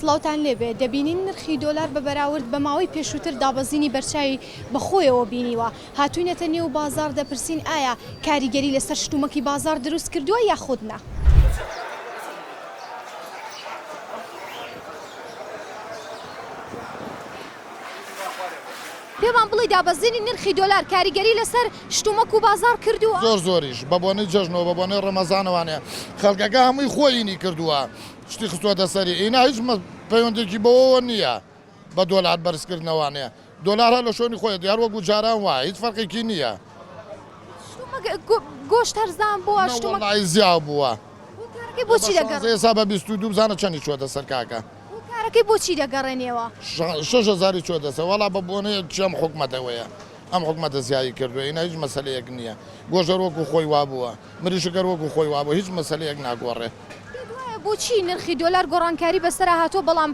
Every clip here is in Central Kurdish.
سڵاوتان لێبێ، دەبینین نرخی دۆلار بە بەراورد بە ماوەی پێشووتر دابەزینی بەرچاوی بەخۆیەوە بینیوە، هاتووینەتە نێو بازاڕ دەپرسین ئایا کاریگەری لەسەر شتومەکی بازاڕ دروست کردووە یاخود نا؟ پێمان بڵی دابەزینی نرخی دۆلار کاریگەری لەسەر شتومەک و بازاڕ کردووە؟ زۆر زۆریش بە بۆنەی جەژن و بە بۆنەی ڕەمەزانەوانێ خەڵکەکە هەمووی خۆیینی کردووە شتی خستووەتە سەری ئینا هیچ پەیوەندێکی بەوەوە نییە بە دۆلار بەرزکردنەوانێ دۆلار هەر لە شۆنی خۆیە دیار وەکو جاران وایە هیچ فەرقێکی نییە. گۆشت هەرزان بووە شتومەکەی زیاو بووە ئێسا بە بیست و دوو بزانە چەنی چووەتە سەر کاکە کارەکەی بۆچی دەگەڕێنیەوە شەش هەزاری چووە دەسە وەڵا بە بۆنەیە چێم حکومەتەوەیە ئەم حکومەتە زیایی کردووە ئینا هیچ مەسلەیەک نییە گۆژەر وەکو خۆی وابووە مریشک هەر وەکو خۆی وابوو هیچ مەسەلەیەک ناگۆڕێ. پێت وایە بۆچی نرخی دۆلار گۆڕانکاری بەسەرا هاتووە بەڵام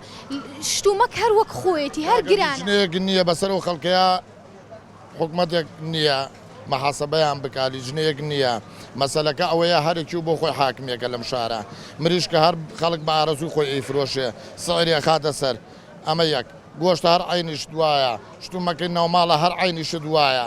شتومەک هەر وەک خۆیەتی هەر گرانە؟ کاکە لیجنەیەک نییە بەسەر ئەو خەڵکەیا حکومەتێک نییە محاسەبەیان بکا لیجنەیەک نییە مەسەلەکە ئەوەیە هەرکیو بۆ خۆی حاکمێکە لەم شارە مریشکە هەر خەڵک بە ئارەزووی خۆی ئەیفرۆشێ سعری ئەخاتە سەر ئەمە یەک گۆشت هەر عەینی شت وایە شتومەکی ناوماڵە هەر عەینی شت وایە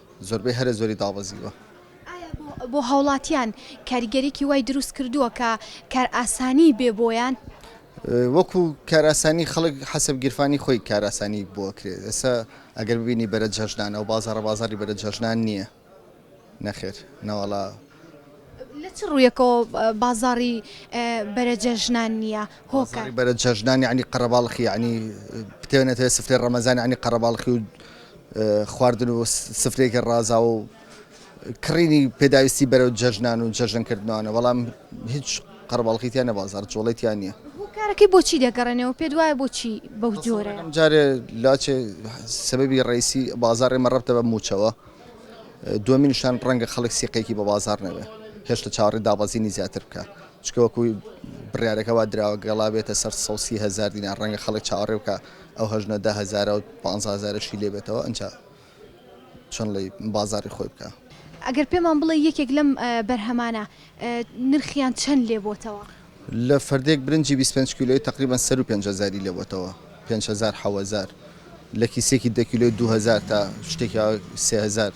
زۆربەی هەرە زۆری دابەزیوە. ئایا بۆ هاوڵاتیان کاریگەریەکی وای دروست کردووە کە کارئاسانی بێ بۆیان؟ وەکو کارئاسانی خەڵک حەسەب گیرفانی خۆی کارئاسانی بۆ ئەکرێت ئێستا ئەگەر ببینی بەرە جەژنانە و بازاڕە بازاڕی بەرە جەژنان نییە نەخێر نەوەڵا. لە چ ڕوویەکەوە بازاڕی بەرە جەژنان نییە هۆکار؟ بازاڕی بەرە جەژنان یانی قەرەباڵخی یانی پتێ نەتەوێ سفرەی ڕەمەزان یانی قەرەباڵخی و خواردن و سفرەیەکی ڕازاو و کڕینی پێداویستی بەرەو جەژنان و جەژن کردنەوانە، بەڵام هیچ قەرەباڵخی تیا نیە بازاڕ جوڵەی تیا نیە. هۆکارەکەی بۆچی دەگەڕێنەوە پێت وایە بۆچی بەو جۆرە؟ ئەم جارێ لاچێ سەبەبی ڕئیسی بازاڕ ئێمە ڕەبتە بە مووچەوە، دووەمینشان ڕەنگە خەڵک سیقەیەکی بە بازاڕ نەبێ هێشتە چاوەڕێ دابەزینی زیاتر بکا، چونکە وەکوو بڕیارەکە وا دراوە گەڵا بێتە سەر سەد و سی هەزار دینار ڕەنگە خەڵک چاوەڕێ بکا ئەو هەژنە دە هەزارە و پانزە هەزارەشی لێ بێتەوە ئنجا چۆن ڵێی بازاڕی خۆی بکا. ئەگەر پێمان بڵێی یەکێک لەم بەرهەمانە نرخیان چەند لێ بۆتەوە؟ لە فەردێک برنجی بیست پێنج کیلۆی تەقریبەن سەروو پێنج هەزاری لێ بۆتەوە پێنج هەزار حەو هەزار لە کیسێکی دە کیلۆی دوو هەزار تا شتێکی ئەوە سێ هەزار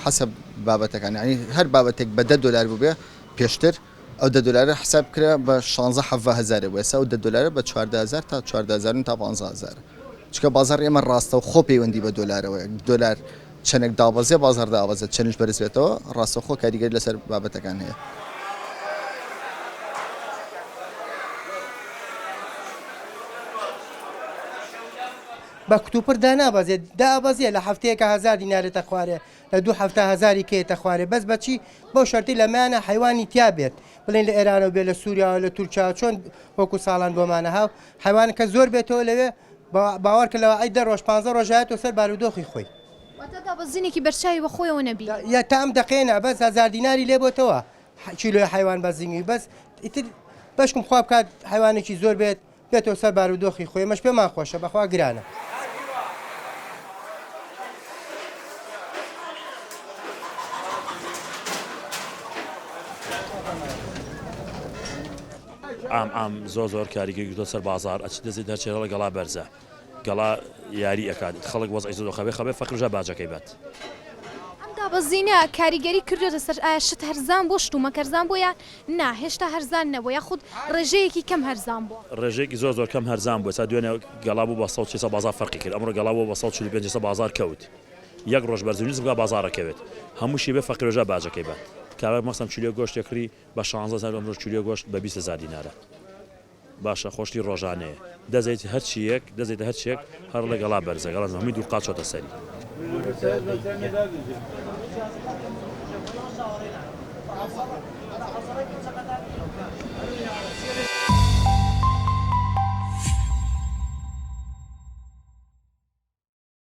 حەسەب بابەتەکان یانی هەر بابەتێک بە دە دۆلار بووبێ پێشتر ئەو دە دۆلارە حساب بکرا بە شانزە حەڤە هەزارێ بوو، ئێستا ئەو دە دۆلارە بە چواردە هەزار تا چواردە هەزار و نیو تا پانزە هەزارە. چونکە بازاڕی ئێمە ڕاستەوخۆ پەیوەندی بە دۆلارەوەیە، دۆلار چەنێک دابەزێ بازاڕ دابەزێت، چەنیش بەرز بێتەوە ڕاستەوخۆ کاریگەری لەسەر بابەتەکان هەیە. بە کوتوپڕ دانابەزێت، دابەزێ لە هەفتەیەکا هەزار دینارێتە خوارێ، لە دوو حەفتا هەزاری کەیتە خوارێ بەس بەچی بەو شەرتی لەمەیانە حەیوانی تیا بێت بڵێن لە ئێرانەوە بێ لە سووریاوە لە تورکیاوە چۆن وەکو ساڵان بۆمانە هاو حەیوان کە زۆر بێتەوە لەوێ باوەڕکە لەوە ئەی دە ڕۆژ پانزە ڕۆژایەتەوە سەر بارودۆخی خۆی دابەزینێکی بەرچاوی بەخۆیەوە نەبی یا تا ئەم دەقێنە بەس هزار دیناری لێ بۆتەوە کیلوی حیوان بەزیوی بەس ئیتر بەشکم خوا بکات حیوانێکی زۆر بێت بێتەوە سەر بارو دۆخی خۆی ئەمەش پێمان خۆشە بەخوا گرانە. عام عام زۆر زۆر کاریگەری گرتوە سەر بازار ئەچ دەزێت دەرچێ هەڵە گەڵا بەرزە گەڵا یاری ئەکات خەڵک وەز ئەیزۆ خەبێ خەبێ فەکرژە باجەکەی بات. ئەم دابەزینە کاریگەری کردوێتە سەر ئایا شت هەرزان بۆ شت و مەکەرزان بۆ یان نا هێشتا هەرزان نەبووە یاخود ڕێژەیەکی کەم هەرزان بووە. ڕێژەیەکی زۆر زۆر کەم هەرزان بووە تا دوێنێ گەڵا بوو بە سەد و چل سەد بازاڕ فەرقی کرد ئەمڕۆ گەڵا بووە بە سەد و چل و پێنج سەد بازاڕ کەوت یەک ڕۆژ بەرزو نیز بکا بازاڕ ئەکەوێت هەمووشی بێ فەقیرۆژا باجەکەی بە کابرا مەستم چلۆ گۆشتێک کڕی بە شانزە هەزار ئەمڕۆش چلۆ گۆشت بە بیست هەزار دینارە. باشە خۆشتی ڕۆژانەیە دەزێیت هەرچی یەک دەزێیتە هەرچی یەک هەر ڵێ گەڵا بەرزە گەڵا زە هەمی دوو قات چۆتە سەری.